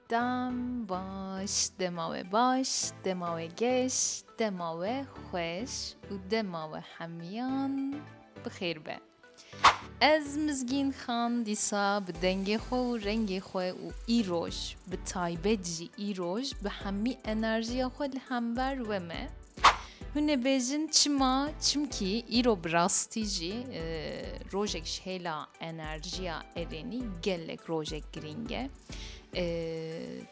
Dam baş, dema we baş, dema we geş, dema we xweş û dema we hemiyan bi xêr be. Ez Mizgîn Xan dîsa bi dengê xwe û rengê xwe û îroj bi taybet jî îroj bi hemî enerjiya xwe li hember we me. Hûn ê bêjin çima? Çimkî îro bi rastî jî e, rojek ji hêla enerjiya erênî gelek rojek girîng e. E,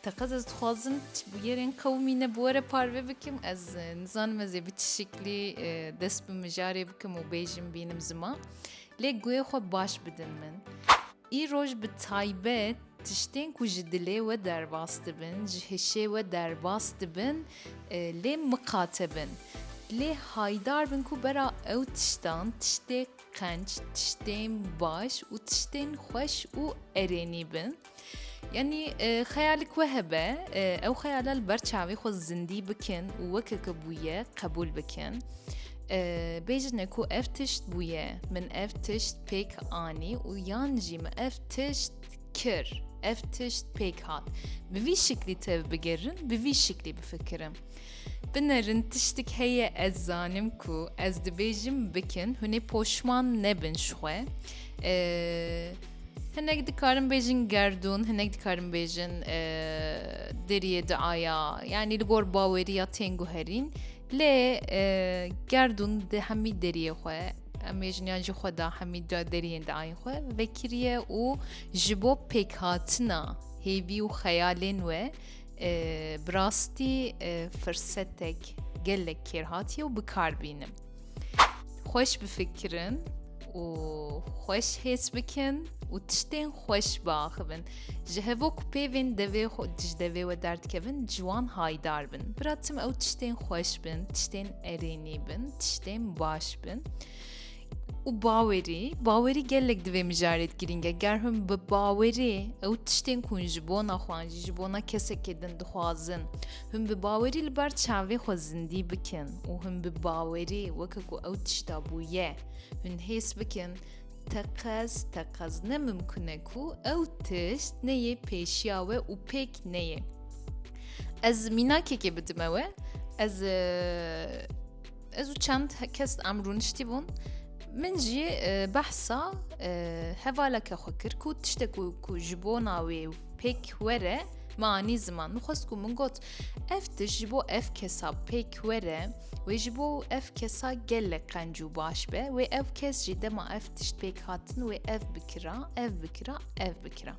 Teqez ez dixwazim ti bi yerên qewimî ne bi we re parve bikim. Ez e, nizanim ez ê bi çi şiklî e, dest bi mijarê bikim û bêjin bînim zima. Lê guhê xwe baş bidin min. Îroj bi taybet tiştên ku ji dilê we derbas dibin, ji hişê we derbas dibin lê miqate bin. Lê haydar bin ku bera ew tiştan tiştê qenc, tiştên baş û tiştên xweş û erênî bin. Yanî xeyalik we hebe, ew xeyala li ber çavê xwe zindî bikin û wekeke bûye qebûl bikin. Bêjine ku ev tişt bûye, min ev tişt pêk anî û yan jî min ev tişt kir, ev tişt pêk hat. Bi vî şiklî tev bigirin, bi vî şiklî bifikirim. Binerin tiştik heye ez zanim ku ez dibêjim bikin, hunê poşman nebin ji xwe. Hinek dikarin bêjin gerdûn, hinek dikarin bêjin deriyê diaya, yanî li gor baweriya tên guherîn. Lê gerdûn di hemî deriyê xwe em ê jiniyan ji xwe da hemî da deriyên di ayên xwe vekiriye û ji bo pêkhatina hêvî û xeyalên we bi rastî firsetek gelek kêr hatiye û bikar bînim. Xweş bifikirin û xweş hêç bikin û tiştên xweş biaxivin. Ji hevo ku pêvên devê xwe di ji devê we derdikevin ciwan haydar bin. Bira tim ew tiştên xweş bin, tiştên erênî bin, tiştên baş bin. û bawerî bawerî gelek divê mijarê girînge ger hûn bi bawerî ew tiştên ku ji bona xwan jî ji bona kesekê din dixwazin Hûn bi bawerî li ber çavê xwe zindî bikin û hûn bi bawerî weke ku ew tişta bûye, hûn hês bikin teqez teqez ne mimkun e ku ew tişt neyê pêşiya we û pêk neyê. Ez mînakekê bidime we, ez ez û çend kes em rûniştî bûn, Min jî behsa hevaleke xwe kir ku tiştek ku ji bona wê Pêk were me anî ziman min xwest ku min got ev tişt ji bo ev kesa pêk were wê ji bo ev kesa gelek qenc û baş be wê ev kes jî dema ev tişt pêk hatin wê ev bikira ev bikira ev bikira.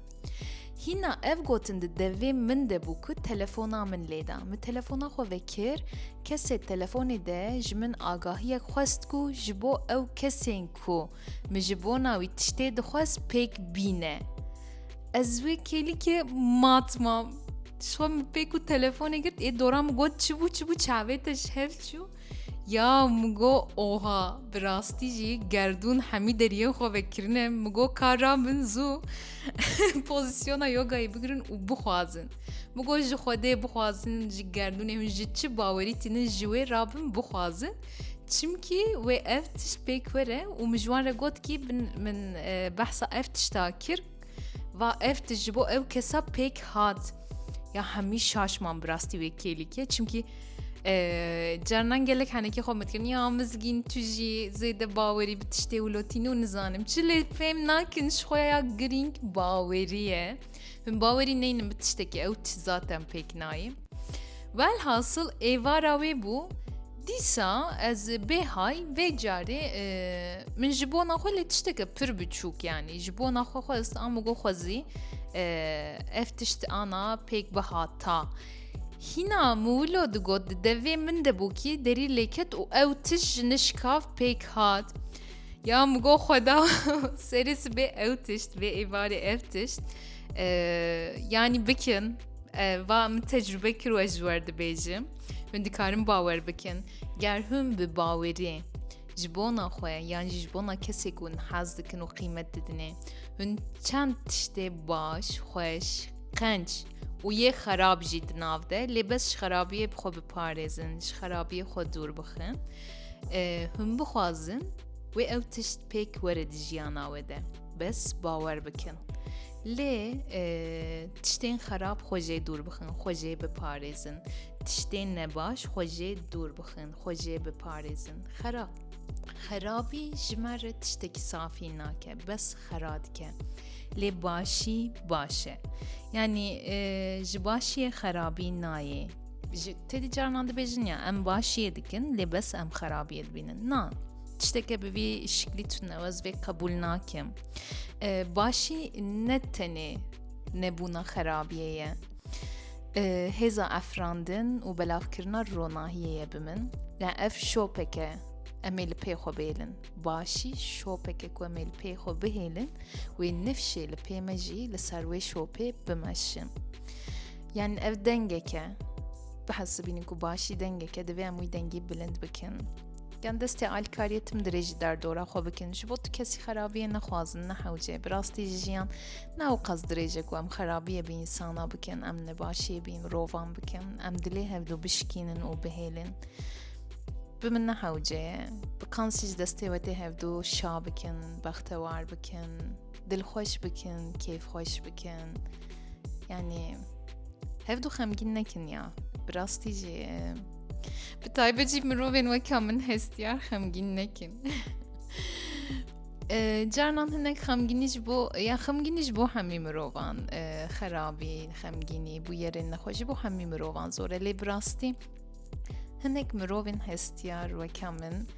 Hîna ev gotin di devê min de bû ku telefona min lêda. Min telefona xwe vekir, kesê telefonê de ji min agahiyek xwest ku ji bo ew kesên ku Min ji bona wî tiştê dixwest pêk bîne. Ez wê kêlikê mat mam. Şwa min pêk û telefonê girt ê dora min got çi bû çi bû çavê te ji hev çû. Ya min go oha bi rastî jî gerdûn hemî deriyên xwe vekirine min go kara min zû pozîsyona yogayê bigirin û bixwazin. Min go ji xwedê bixwazin ji gerdûnê hûn ji çi bawerî tînin ji wê rabin bixwazin. Çimkî wê ev tişt pêk were û min ji wan re got kî min e, behsa ev tişta kir va ev tişt ji bo ew kesa pêk hat ya hemî şaşman bi rastî wê kêlîkê çimkî Cernan gelek henekî xwe min dikirin ya mizgîn tu jî zêde bawerî bi tiştê û lotîn û nizanim çi lê fêm nakin ji xwe ya girîng bawerî ye. Hûn bawerî neynin bi tiştekî ew çi zate em pêk nayê. Welhasil êvara wê bû dîsa ez bêhay vê carê e, min ji bona xwe lê tişteke pir biçûk yanî ji bona xwe xwe ez am got xwezî e, ev tişt ana pêk bihata. Hîna miwilo digot di devê min de bû kî derî lêket û ew tişt ji nişkav pêk hat. Ya min got xweda serê sibê ew tişt vê êvarê ev tişt yanî bikin va min tecrübe kir we ji wer dibêjim hûn dikarin bawer bikin ger hûn bi bawerê ji bona xwe yan jî ji bona kesê ku hûn hez dikin û qîmet didinê hûn çend tiştê baş xweş qenc û yê xerab jî di nav de lê bes ji xerabiyê bi xwe biparêzin ji xerabiyê xwe dûr bixin Hûn bixwazin wê ew tişt pêk were di jiyana we de bes bawer bikin. Lê tiştên xerab xwejê dûr bixin, xwejê biparêzin. Tiştên nebaş xwejê dûr bixin, xwejê biparêzin. Xerab. Xerabî ji me re tiştekî safî nake, bes xera dike. Lê başî baş e. Yanî ji başiyê xerabî nayê. Ji tedî carinan dibêjin ya em başiyê dikin lê bes em xerabiyê dibînin. Na tişteke bi vî şiklî tunewez vê qebûl nakim. Başî ne tenê nebûna xerabiyê ye. Hêza efrandin û belavkirina ronahiyê ye bi min. Ya ev şopeke em ê li pê xwe bêlin. Başî şopeke ku em ê li pê xwe bihêlin wê nifşê li pê me jî li ser wê şopê bimeşin. Yani ev dengeke bihesibînin ku başî dengeke divê em wî dengî bilind bikin. Yan destê alkariyê tim dirêjî derdora xwe bikin ji bo tu kesî xerabiyê nexwazin nehewcê bi rastî ji jiyan ne ew qas dirêje ku em xerabiyê bi însana bikin em nebaşiyê bi mirovan bikin em dilê hevdû bişkînin û bihêlin bi min nehewcê bi kansî ji destê wetê hevdû şa bikin bextewar bikin dilxweş bikin, kêfxweş bikin. Yani hev du xemgîn nekin ya. Bi rastî jî e, bi taybet jî mirovên weka min hestiyar xemgîn nekin. E, Carnan hinek xemgînî ji bo ya xemgînî ji bo hemî mirovan e, xerabî, xemgînî bû yerên nexwe ji bo hemî mirovan zor e lê bi rastî hinek mirovên hestiyar weka min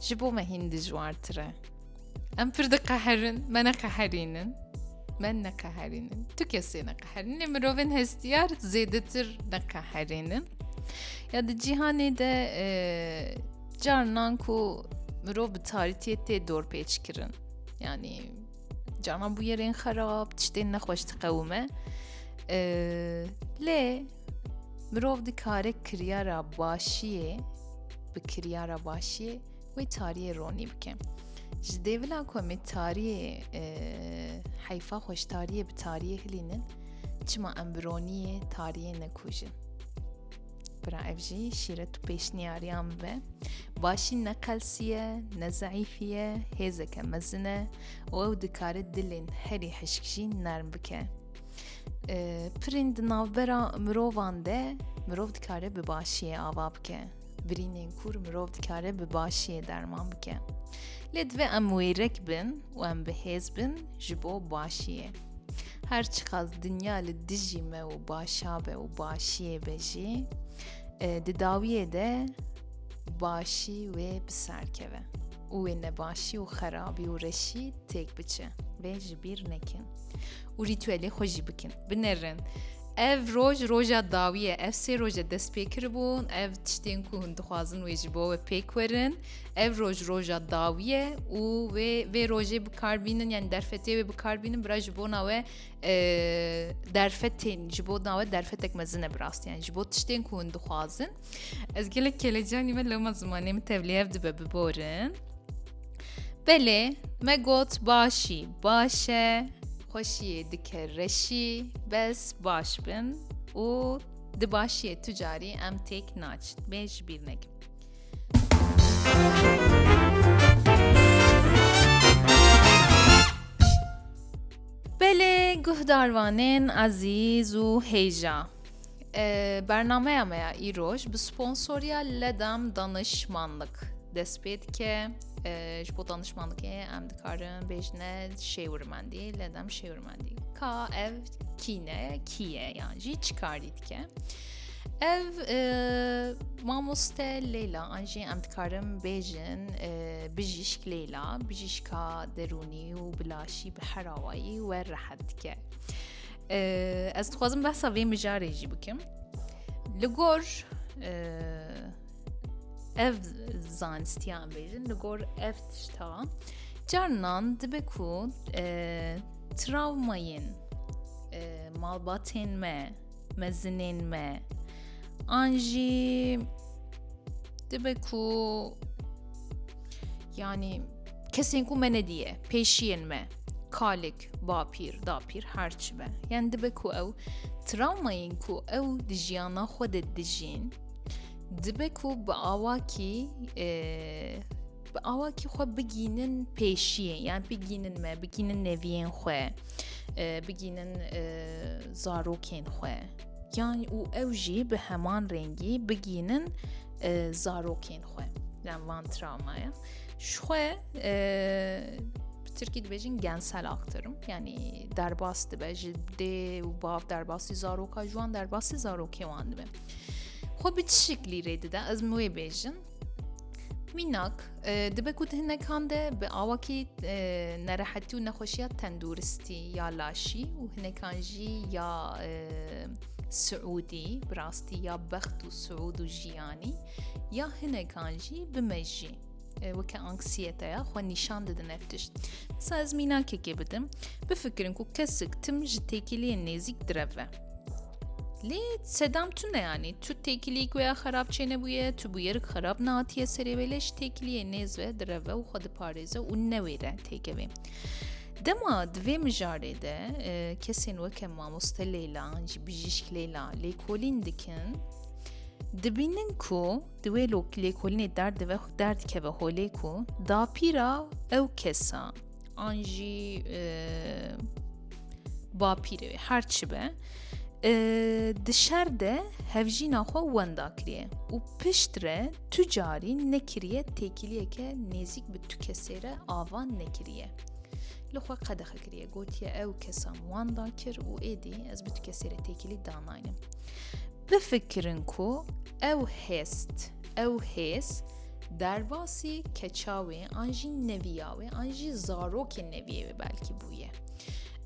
ji bo me hîn dijwartir e. Em pir diqeherin, me neqeherînin. Me neqeherînin. Tu kesê neqeherîn. Lê mirovên hestiyar zêdetir neqeherînin. Ya di cîhanê de e, carnan ku mirov bi tarîtiyê tê dorpêç kirin. Yanî carnan bû yerên xerab, tiştên nexweş diqewime. E, lê mirov dikare kiryara başiyê bi kiryara başiyê Wê tariyê ronî bike. Ji dê vila ku em ê tariyê e, heyfa xwe ji tariyê bi tariyê hilînin, çima em bi roniyê tariyê nekujin. Bira ev jî şîret û pêşniyariyan be. Başî ne qelsiye, ne zeîfiye, hêzeke mezin e û ew dikare dilên herî hişk jî nerm bike. Pirên di navbera mirovan de mirov dikare bi başiyê ava bike. Birînên kûr mirov dikare bi başiyê derman bike. Lê divê em wêrek bin û em bi hêz bin ji bo başiyê. Her çiqas dinya li dijî me û başa be û başiyê be jî e, di dawiyê de başî wê bi ser keve û wê nebaşî û xerabî û reşî têk biçe vê ji bîr nekin û rîtûelê xwe jî bikin. Binêrin. Ev roj roja dawî ye ev sê roje dest pê kiribûn ev tiştên ku hûn dixwazin wê ji bo we pêk werin ev roj roja dawî ye û wê vê rojê bikarbînin yani derfetê wê bikarbînin bira ji bona we e, derfetên ji bo nawe derfetek mezin e bi rastiyan ji bo tiştên ku hûn dixwazin Ez gelek kelecanî me loma zimanê min tevlêyev dibe biborin. Belê me got başî, başe, xweşiyê dike reşî, bes baş bin û di başiyê tu carî em têk naçin. Bê ji bîr nekin. Belê guhdarvanên ezîz û hêja. Bernameya me ya îroj bi sponsoriya ledam danişmanlik dest pê dike ji bo danişmanlikê em dikarin bêjine şêwirmendî ledam şêwirmendî ka ev kîne kîye yan jî çikarî dike. Ev mamoste Leyla an jî em dikarin bêjin bijîşk Leyla bijîşka derûnî û bilaşî bi herawayî we rehet dike. Ez dixwazim behsa vê mijarê jî bikim. Li gor ev zanistiyan bêjin li gor ev tişta carnan dibe ku travmayên malbatên me mezinên me an jî dibe ku yanî kesên ku me nediye pêşiyên me kalik bapîr, dapîr her çi be. Yani dibe ku ew travmayên ku ew di jiyana xwe de dijîn dibe ku bi awakî e, bi awakî xwe bigînin pêşiyê yan bigînin me bigînin neviyên xwe e, bigînin e, zarokên xwe yan û ew jî bi heman rengî bigînin zarokên xwe yan van travmaya ji xwe Türkî dibêjin gensel aktarım. Yani derbas dibe ji dê û bav derbasî zaroka ji wan derbasî zarokê wan dibe. Xwe bi tişik lîrê dide ez min wê bêjin. Mînak e, dibe ku di hinekan de bi awakî e, nerehetî û nexweşiya tenduristî ya laşî û hinekan jî ya e, Suudi bi rastî ya bext û Suud û jiyanî ya hinekan jî bi mejî. weke anksiyeteya xwe nîşan didin ev tişt. Sa ez mînakekê bidim, bifikirin ku kesik tim ji têkiliyên nêzîk direve. Lê sedam tu ne yanî, tu têkiliyî guya xerab çênebûye, tu bûyerik xerab nehatiye serê wê lê ji têkiliyê nêz ve direve û xwe diparêze û newêre têkevê. Dema di vê mijarê de e, kesên weke mamoste Leyla, ji bijîşk Leyla lêkolîn dikin, dibînin ku Di wê lêkolînê der dive der dikeve holê ku dapîra ew kesa an jî e, bapîrê wê her çi be e, di şer de hevjîna xwe wenda kiriye û pişt re tu carî nekiriye têkiliyeke nêzik bi tu kesê re ava nekiriye. Li xwe qedexe kiriye gotiye ew kesan wanda kir û êdî ez bi tu kesê re têkilî danaynim. Bifikirin ku ew hêst, ew hêz derbasî keça wê an jî neviya wê an jî zarokên neviyê wê belkî bûye.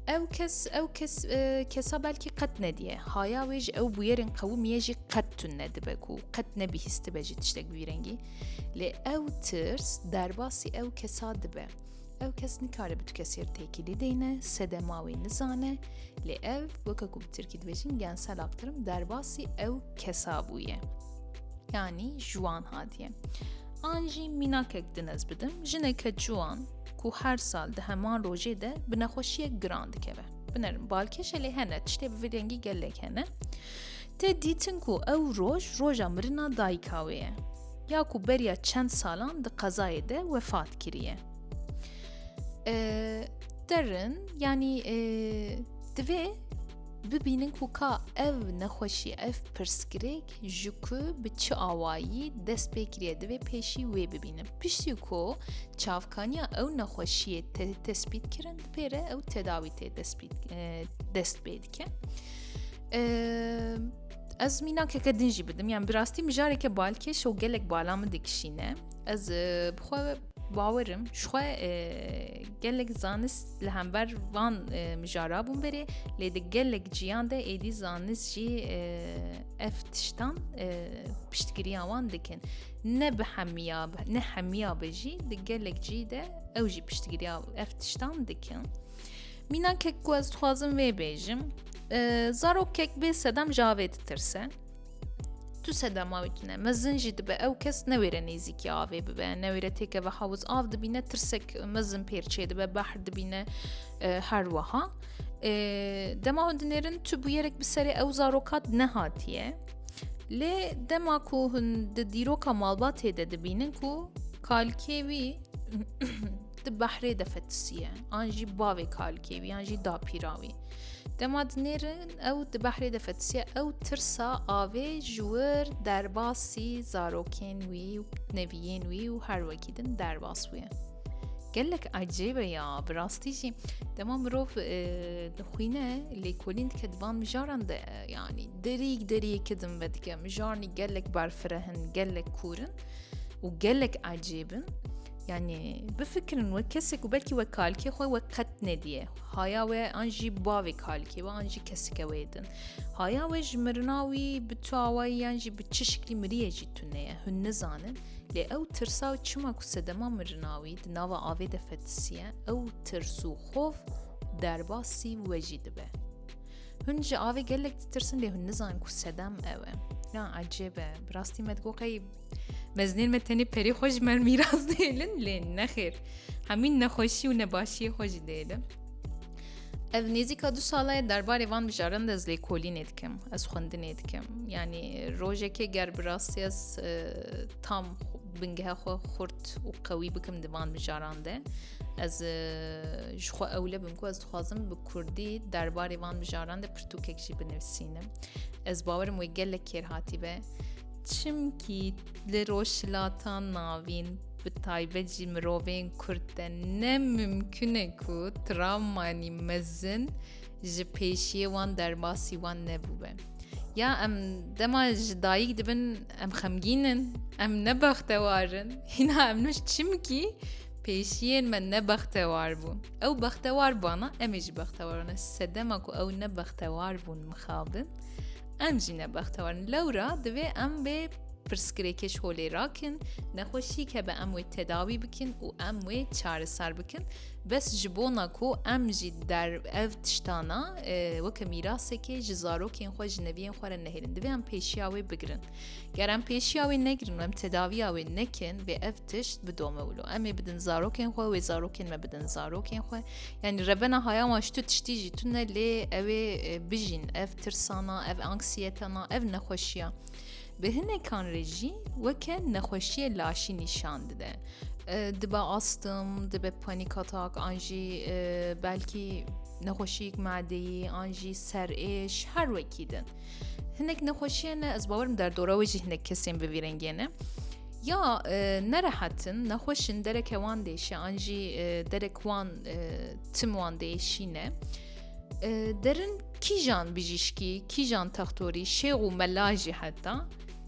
Ew kes ew kes e, kesa belkî qet nediye. Haya wê ji ew bûyerên qewimiye jî qet tun nedibe ku qet nebihîstibe jî tiştek bi vî rengî. Lê ew tirs derbasî ew kesa dibe. Ew kes nikare bi tu kesê re têkilî deyne, sedema wê nizane, lê ev weke ku bi tirkî dibêjin gensel aktirim derbasî ew kesa bûye. Yanî jiwan hatiye. An jî mînakek dinez bidim, jineke ciwan ku her sal di heman rojê de bi nexweşiyek giran dikeve. Binerim balkêşe lê hene tiştê bi vê dengî gelek hene. Tê dîtin ku ew roj roja mirina dayika wê ye ya ku beriya çend salan di qezayê de wefat kiriye. Derin yanî divê bibînin ku ka ev nexweşî ev pirsgirêk ji ku bi çi awayî dest pê kiriye divê pêşî wê bibînin. Piştî ku çavkaniya ew nexweşiyê te tespît kirin pêre ew tedawî tê dest pê dike. Ez mînakeke din jî bidim yan bi rastî mijareke balkêş û gelek bala min dikişîne ez bixwe bawerim jixwe gelek zanist li hember van mijara bûn berê lê di gelek ciyan de êdî zanist jî ev tiştan piştgiriya wan dikin ne bi hemiya ne hemiya be jî di gelek cî de ew jî piştgiriya ev tiştan dikin. Mînakek ku ez dixwazim vê bêjim zarokek bê sedem ji avê ditirse tu sedema wî tune mezin jî dibe ew kes newêre nêzîkî avê bibe newêre têkeve hawiz av dibîne tirsek mezin pêrçê dibe behr dibîne her wiha dema hûn dinêrin tu bûyerek bi serê ew zarokat nehatiye lê dema ku hûn di dîroka malbatê de dibînin ku kalkê wî di behrê de fetisiye an jî bavê kalkê wî an jî dapîra wî dema dinêrin ew di behrê de fetisiye ew tirsa avê ji wir derbasî zarokên wî û neviyên wî û her wekî din derbas wîye gelek ecêbe ya bi rastî jî dema mirov dixwîne lêkolîn dike di van mijaran de yanî derîk deriyê kidin ve dike mijarnî gelek berfirehin gelek kûrin û gelek ecêbin Yani bifikirin we kesek û belkî we kalkê xwe we qet nediye. Haya we an jî bavê kalkê we an jî kesike wê din. Haya we ji mirina wî bi tu awayî yan jî bi çi şiklî miriyê jî tu neye hûn nizanin. Lê ew tirsa û çima ku sedema mirina wî di nava avê de fetisiye ew tirs û xov derbasî we jî dibe. Hûn ji avê gelek ditirsin lê hûn nizanin ku sedem ew e. Ya ecêbe, bi rastî me digoqey Mezinên me tenê perê xwe ji me mîras dêlin lê nexêr hemîn nexweşî û nebaşiyê xwe jî dêlin. Ev nêzîka du sala ye derbarê van bijaran de ez lêkolînê dikim ez xwendinê dikim yanî rojekê ger bi rastî ez e, tam bingehe xwe xurt û qewî bikim di van bijaran de ez e, ji xwe ewle bim ku ez dixwazim bi kurdî derbarê van bijaran de pirtûkek jî binivisînim ez bawerim wê gelek kêr hatî be Çimkî li Rojhilata Navîn bi taybet jî mirovên Kurd de ne mimkun e ku travmanî mezin ji pêşiyê wan derbasî wan nebûbe. Ya em dema ji dayîk dibin em xemgîn in, em ne bextewar in, hîna em nûş çimkî pêşiyên me ne bextewar bûn. Ew bextewar bana em ê jî bextewar ne. Sedema ku ew ne bextewar bûn mixabin, Em jî ne bextewar in. Lewra divê em bê pirsgirêkê ji holê rakin, nexweşîk hebe em wê tedawî bikin û em wê çareser bikin. Bes ji bona ku em jî der ev tiştana weke mîrasekê ji zarokên xwe ji neviyên xwe re nehêlin. Divê em pêşiya wê bigirin. Ger em pêşiya wê negirin û em tedaviya wê nekin vê ev tişt bidome wilo. Em ê bidin zarokên xwe wê zarokên me bidin zarokên xwe. Yani revena haya wan ji tu tiştî jî tune lê ew ê bijîn ev tirsana, ev anksiyetana, ev nexweşiya. Bi hinekan rê jî weke nexweşiyê laşî nîşan dide. Dibe astım, dibe panik atak, an jî belkî nexweşiyek madeyî, an jî serêş her wekî din. Hinek nexweşiyê ne ez bawerim derdora wê jî hinek kesên bi vî rengê ne. Ya nerehetin, nexweşin dereke wan dêşe, an jî derek wan tim wan dêşîne. Derin kîjan bijîşkî, kîjan textorî, şêx û mela jî heta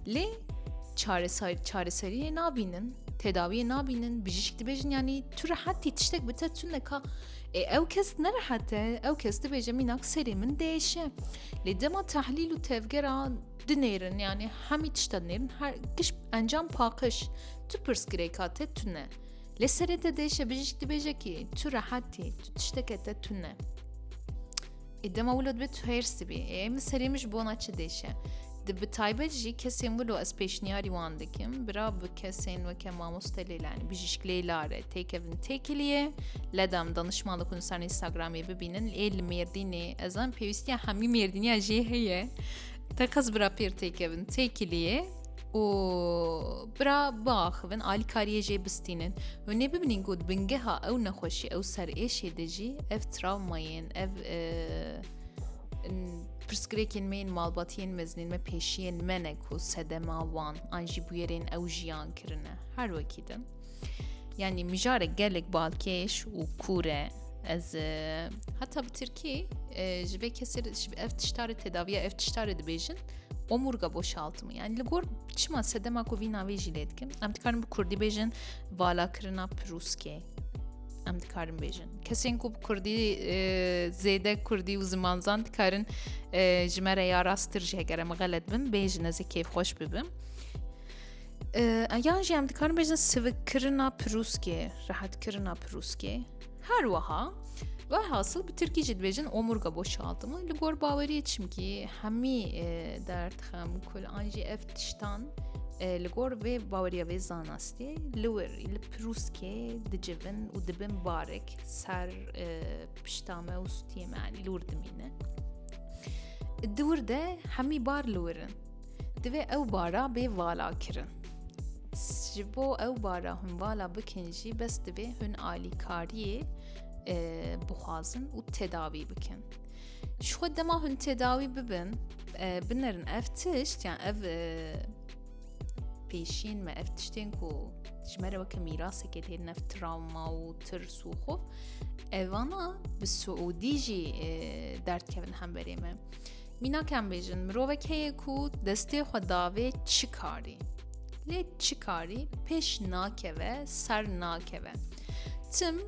lê çareseriyê nabînin, tedawiyê nabînin, bijîşk dibêjin yanî tu rehetî tiştek bi te tune ka e, ew kes nerehete, ew kes dibêje mînak serê min dêşe. Lê dema tehlîl û tevgera dinêrin yanî hemî tişta dinêrin her giş encam paqiş tu pirsgirêka te tune. Lê serê te dê şebijîşk dibêje kî tu rehat î, tu tişteke te tune. Ê dema wilo dibe tu hêrs dibî. Ê min serê min ji bona çi dêşe. Di bi taybet jî kesên wilo ez pêşniyarî wan dikim. Bira bi kesên weke mamoste lêle yani bijîşk lêla re têkevin têkiliyê. Ledam danişman dikun ser Instagramê bibînin. Ê li mêrdînê ez an pêwîstiya hemî mêrdîniya jê heye. Te qez bira pêr têkevin têkiliyê û Bira biaxivin alîkariyê jê bistînin. Hûn ê bibînin ku di bingeha ew nexweşî ew serêşê de jî ev travmayên ev pirsgirêkên me yên malbatiyên mezinên me pêşiyên me ne ku sedema wan an jî bûyerên ew jiyan kirine her wekî din. Yani mijare gelek balkêş û kûre ez heta bi Tirkî ji vê kesê ev tiştarê tedaviya ev tiştarê dibêjin omurga boşaltımı. Yani li gor çima sedema ku vî navê jî lê dikim. Em dikarin bi Kurdî bêjin valakirina pirûskê. Em dikarin bêjin. Kesên ku bi Kurdî e, zêde Kurdî û ziman zan dikarin e, ji me re ya rasttir jî heger em xelet bin bêjin ez ê kêfxweş bibim. E, yan jî em dikarin bêjin sivikkirina pirûskê, rehetkirina pirûskê. Her wiha Velhasil bi Tirkî jî dibêjin omurga boşaltimi li gor baweriyê çimkî hemî e, derd xem kul an jî ev tiştan e, li gor vê baweriya vê zanastê li wir li pirûskê dicivin û dibin barek ser e, pişta me û stiyê me anî li wir dimîne. Di wir de hemî bar li wirin. Divê ew bara bê vala kirin. Ji bo ew bara hûn vala bikin jî bes divê hûn alîkariyê e, bixwazin û tedawî bikin. Ji xwe dema hûn tedawî bibin e, binerin ev tişt yan ev e, pêşîn me ev tiştên ku ji me re weke mîrasekê têrin ev travma û tirs û xov evana bi Suûdî jî derdkevin hemberê me. Mînak em bêjin mirovek heye ku destê xwe davê çi karî. Lê çi karî pêş nakeve, ser nakeve. Tim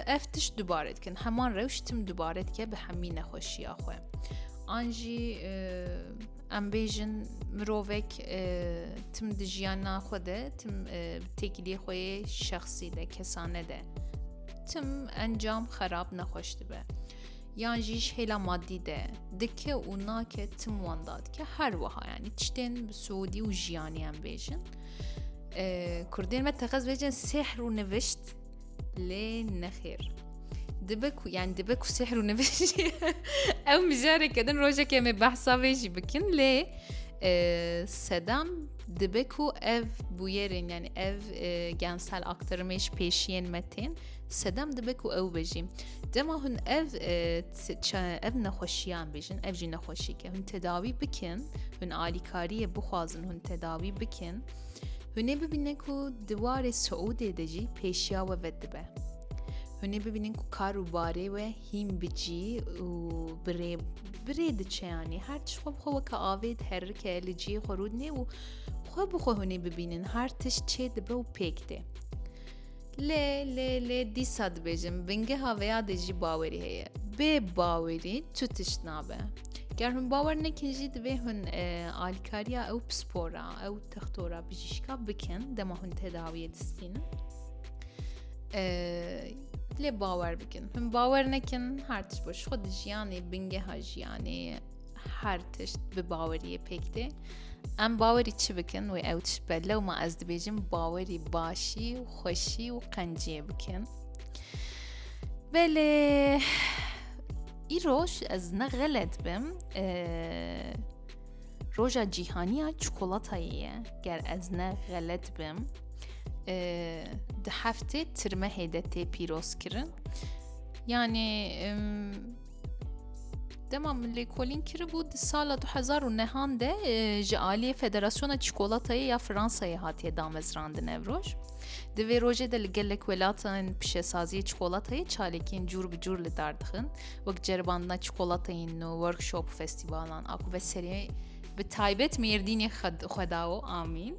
ev tiş dubare dikin. Heman rewş tim dubare dike bi hemî nexweşiya xwe. An jî em bêjin mirovek tim di jiyana xwe de tim têkiliyê xwe yê şexsî de kesane de tim encam xerab nexweş dibe. yan jî ji hêla maddî de dike û nake tim wan dadike her wiha yanî tiştên bi Suûdî û jiyanî em bêjin Kurdên me texez bêjin sehr û nivişt lê nexêr. Dibe ku yani dibe ku sehr û nivişt ew mijareke din rojeke me behsa vê jî bikin lê sedam dibe ku ev bûyerên yani ev gensel aktirmêş pêşiyên me tên sedam dibe ku ew bejî Dema hûn ev ev nexweşiyan bêjin ev jî nexweşîke hûn tedawî bikin hûn alîkariyê bixwazin hûn tedawî bikin hûnê bibîne ku di warê Siûdê de jî pêşiya we ve dibe hûnê bibînin ku kar û barê we hîn bicî û birê birê diçe yanî her tişt xwe bixwe weke avê diherike li ciyê xwe rûdinê û xwe bixwe hûnê bibînin her tişt çê dibe û pêk tê Lê lê lê dîsa dibêjim bingeha vê ya de jî bawerî heye. Bê bawerî tu tişt nabe. Ger hûn bawer nekin jî divê hûn e, alîkariya ew pispora, ew textora bijîşka bikin dema hûn tedawiyê distînin. E, lê bawer bikin. Hûn bawer nekin her tişt baş xwe di jiyanê bingeha jiyanê her tişt bi baweriyê pêk tê em bawerî çi bikin wê ew tişt be lew ma ez dibêjim bawerî başî û xweşî û qenciyê bikin belê îroj ez ne xelet bim roja cîhaniya çikolatayê ye ger ez ne xelet bim di heftê tirmehê de tê pîrozkirin yanê Dema min lêkolîn kiribû di sala du hezar û nehan de e, ji aliyê Federasyona Çikolatayê ya Fransayê hatiye damezrandin ev roj. Di vê rojê de li gelek welatên pişesaziyê çikolatayê çalekiyên cûr bi cûr li dar dixin wek ceribandina çikolateyên nû, workshop û festîvalan a ku veserê bi taybet mêrdînê xwedawo amîn.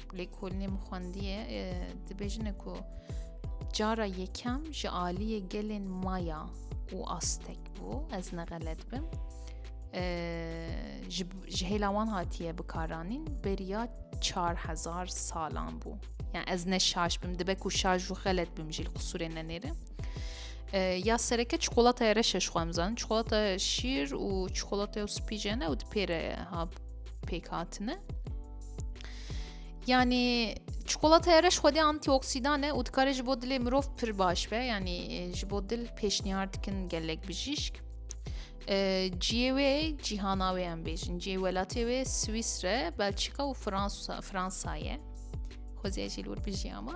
lêkolînê min xwendiye dibêjine ku cara yekem ji aliyê gelên maya û astek bû ez nexelet bim ji hêla wan hatiye bikaranîn beriya 4000 salan bû yani ez ne şaş bim dibe ku şaj û xelet bim jî qisûrê nenêre ya sereke çikolataya reşe ji xwe mizan çikolata şîr û çikolataya spîjene û dipêre ha pêk hatine Yani Çikolataya reş xwedê antîoksidan e û dikare ji bo dilê mirov pir baş be yanî e, ji bo dil pêşniyar dikin gelek bijîşk. E, ciyê wê cîhana wê em bêjin ciyê welatê wê Swîsre, Belçîka û Fransa Fransa ye. Xwezê jî lûr bijî ama.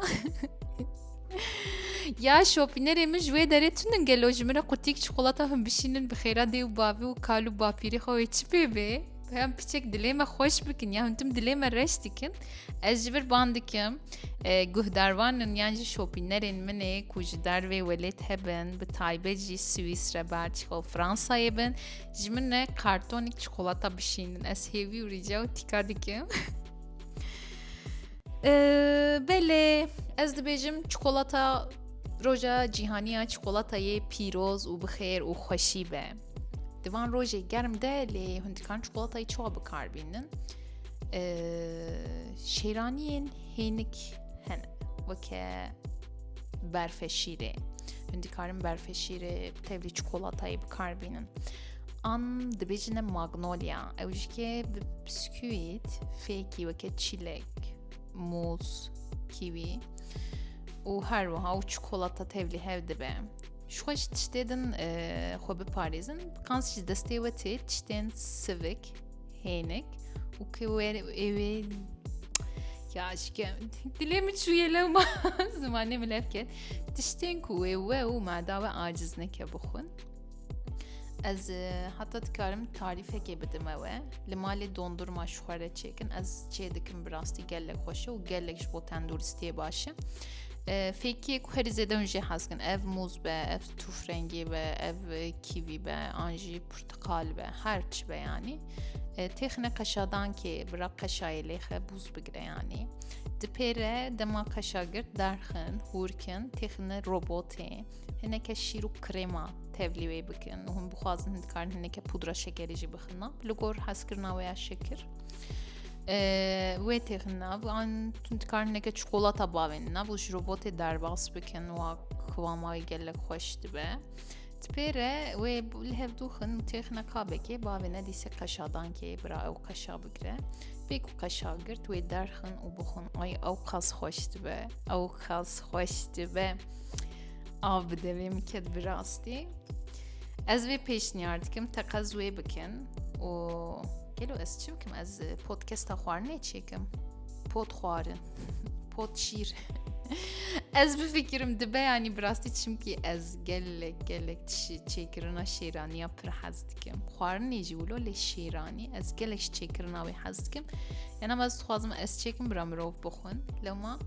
ya şopînerê min ji wê derê tunin gelo ji min re qutîk çikolata hûn bişînin bi xêra dê û bavê û kal û bapîrê xwe wê çi pê bê? Peyam piçek dilê me xweş bikin ya huntim dilê me reş dikin ez ji vir ban dikim e, guhdarvanin yan jî şopînerên min ê ku ji dervê welêt hebin bi taybet jî Swîsre Belçîka û Fransayê bin ji min ne kartonîk çikolata bişînin ez hêvî û rîca û tîka dikim e, belê ez dibêjim çikolata roja cîhaniya çikolatayê pîroz û bixêr û xweşî be Di van rojê germ de lê hûn dikan çikolatayê çawa bikar bînin. Şêraniyên hênik hene weke berfeşîrê. Hûn dikarin berfeşîrê tevlî çikolatayê bikar bînin. An dibêjine magnolya ew ji ke bi bisküwît fêkî weke çîlek, mûz, kîwî û her wiha û çikolata tevlî hev dibe. Ji xwe ji tiştê din xwe biparêzin qans ji destê we tê tiştên sivik hênik û ki wê êwê ya şike dilê min çûye lewma zimanê min lev ket tiştên ku wê we û mada we aciz neke bixwin ez heta dikarim tarîfekê bidim ewe li malê dondurma ji xwe re çêkin ez çê dikim bi rastî gelek xweşe û gelek ji bo tenduristiyê baş e Fêkî ku herî zêde hûn jê hez kin ev mûz be, ev tûfrengî be, ev kîvî be, an jî portiqal be, her çi be yanî. Têxine qeşadankê bira qeşayê lêxe bûz bigire yanî. Di pêre dema qeşa girt derxin, hûrkin, têxine robotê, hineke şîr û krêma tevlî wê bikin. Hûn bixwazin dikarin hineke pudra şekerî jî bixina. Li gor hezkirina wê ya şekir. wê têxin nav an tun dikarin neke çikolata bavên nav û ji robotê derbas bikin wa kıvama wê gelek xweş dibe. Tipêre wê li hev dûxin û têxine kabekê bavê nedîse qeşadankê bira ew qeşa bigire. Pê ku qeşa girt wê derxin û bixin ay ew qas xweş dibe ew qas xweş dibe. Av bi devê min ket bi rastî. Ez vê pêşniyar dikim teqez wê bikin û Gelo ez çi bikim ez e, podkesta xwarinê çêkim pot xwarin pot şîr ez bifikirim dibe yanî bi rastî çimkî ez gelek gelek tişî çêkirina şêraniya pir hez dikim xwarinê jî wilo lê şêranî ez gelek ji çêkirina wê hez dikim yan ama ez dixwazim ez çêkim bira mirov bixwin lewma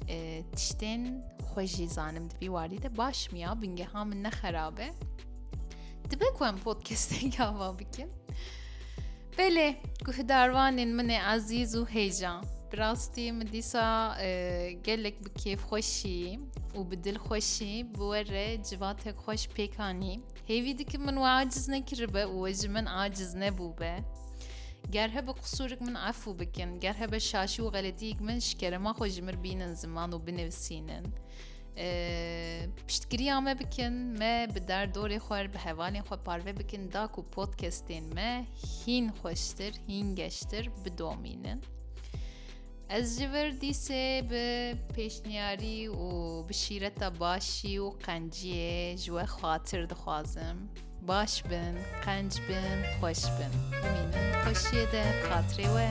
e, tiştên xwe jî zanim dibî warî de baş miya bingeha min ne xerabe Dibe ku em podcasteke ava bikin. Belê guhdarvanên min ê ezîz û hêja. Bi rastî min dîsa e, gelek bi kêfxweşî û bi dilxweşî bi we re civatek xweş pêkanî. Hêvî dikim min we aciz nekiribe û we ji min aciz nebûbe. Ger hebe qusûrik min efû bikin, ger hebe şaşî û xeletiyek min şikerema xwe ji mir bînin ziman û binivîsînin. Piştgiriya me bikin me bi derdorê xwe bi hevalên xwe parve bikin da ku podcastên me hîn xweştir hîn geştir bidomînin. Ez ji vir dîsê bi pêşniyarî û bi şîreta başî û qenciyê ji we xatir dixwazim. Baş bin, qenc bin, xweş bin. Bimînin xweşiyê de xatirê we.